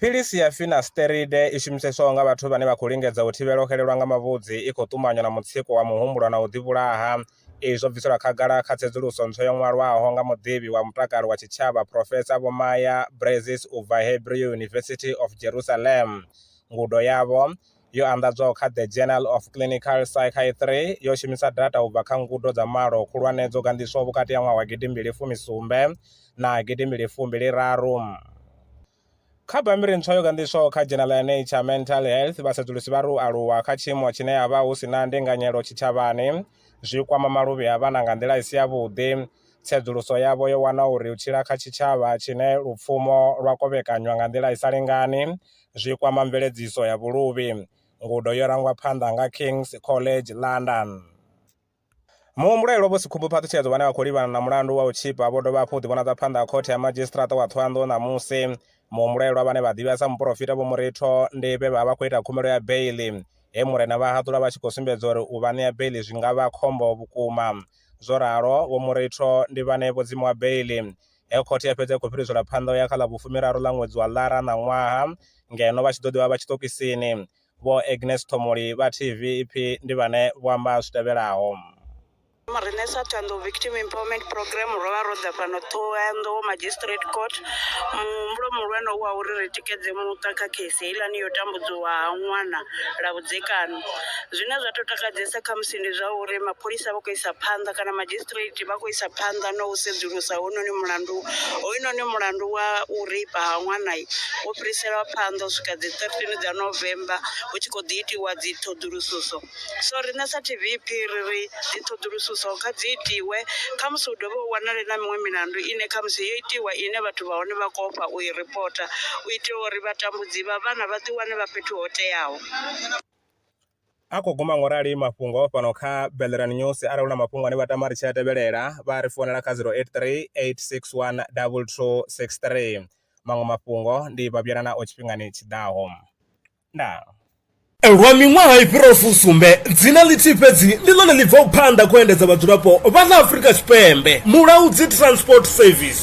Philisi ya finasteride i shumiseswaho nga vhathu vhane vha khou lingedza u thivhela u xelelwa nga mavhudzi i khou ṱumanywa na mutsiko wa muhumbulo na u ḓivhulaha. Izwi zwo bviselwa khagala kha tsedzuluso ntswa yo ṅwalwaho nga muḓivhi wa mutakalo wa tshitshavha Phrofesa Vho Maya Breizes u bva Hebrew University of Jerusalem. Ngudo yavho yo anḓadzwaho kha The Journal of Clinical Psychiatry yo shumisa data u bva kha ngudo dza malo khulwane dzo ganḓiswaho vhukati ha ṅwaha wa gidi mbili fumi sumbe na gidi mbili fumbili raru. Kha bammbiri ntswa yo ganḓiswaho kha dzhenala ya Nature Mental Health, vhasedzulusi vha ri u aluwa kha tshiimo tshine ha vha hu si na ndinganyelo tshitshavhani zwi kwama maluvhi a vhana nga nḓila i si yavhuḓi. Tsedzuluso yavho yo wana uri u tshila kha tshitshavha tshine lupfumo lwa kovhekanywa nga nḓila i sa lingani zwi kwama mveledziso ya vhuluvhi. Ngudo yo rangwa phanḓa nga King's College London. Muhumbulo elwa vho Sikhumbu Phaṱhutshedzo vhane vha khou livhana na mulandu wa u tshipa vho dovha hafhu u ḓivhonadza phanḓa ha khothe ya madzhisiṱiraṱa wa Thohoyanḓou ṋamusi. Muhumbulo elwa vhane vha ḓivhea sa muporofita Vho Muritho ndi vhe vha vha khou ita khumbelo ya beiḽi, he Murena vha haṱula vha tshi khou sumbedza uri u vha ṋea beiḽi zwi nga vha khombo vhukuma. Zwo ralo, Vho Muritho ndi vhane vho dzimiwa beiḽi. Heyo khothe ya fhedza i khou fhiriselwa phanḓa u ya kha ḽa vhufumiraru ḽa ṅwedzi wa Ḽara ṋaṅwaha ngeno vha tshi ḓo ḓi vha vha tshiṱokisini. Vho Agnes Thomoli vha TV Ipfi ndi vhane vho amba zwi tevhelaho. Riṋe sa Thohoyandou Victim Empowerment Programme ro vha ro ḓa fhano Thohoyandou Magistrate Court. Muhumbulo muhulwane u wa uri ri tikedze muṱa kha khesi heiḽani yo tambudziwa ha ṅwana lwa vhudzekani. Zwine zwa tou takadzesa khamusi ndi zwa uri mapholisa vha khou isa phanḓa kana madzhisi. magistrate vha khou isa phanḓa na u sedzulusa hounoni mulandu hoyunoni mulandu wa u reipa ha ṅwana wo fhiriselwa phanḓa u swika dzi 13 dza november hu tshi khou ḓi itiwa dzi ṱhoḓulususo so riṋe sa tvp ri ri dzi ṱhoḓulususo kha dzi itiwe khamusi hu dovhe u wanale na miṅwe milandu ine khamusi yo itiwa ine vhathu vha hone vha khou ofha u i ripota u itela uri vhatambudzi vha vhana vha ḓi wane vha fhethu ho teaho A khou guma ngorali mafhungo fhano kha Belleran News. Arali hu na mafhungo ane vha tama ri tshi a tevhelela, vha a ri founela kha 0838612263. Maṅwe mafhungo ndi vha vhuyela nao tshifhingani tshi ḓaho. Ndaa. Lwa miṅwaha i fhiraho fusumbe, dzina ḽithihi fhedzi ndi ḽone ḽi bvaho phanḓa kha u endedza vhadzulapo vha ḽa Afrika Tshipembe, Mulaudzi Transport Service.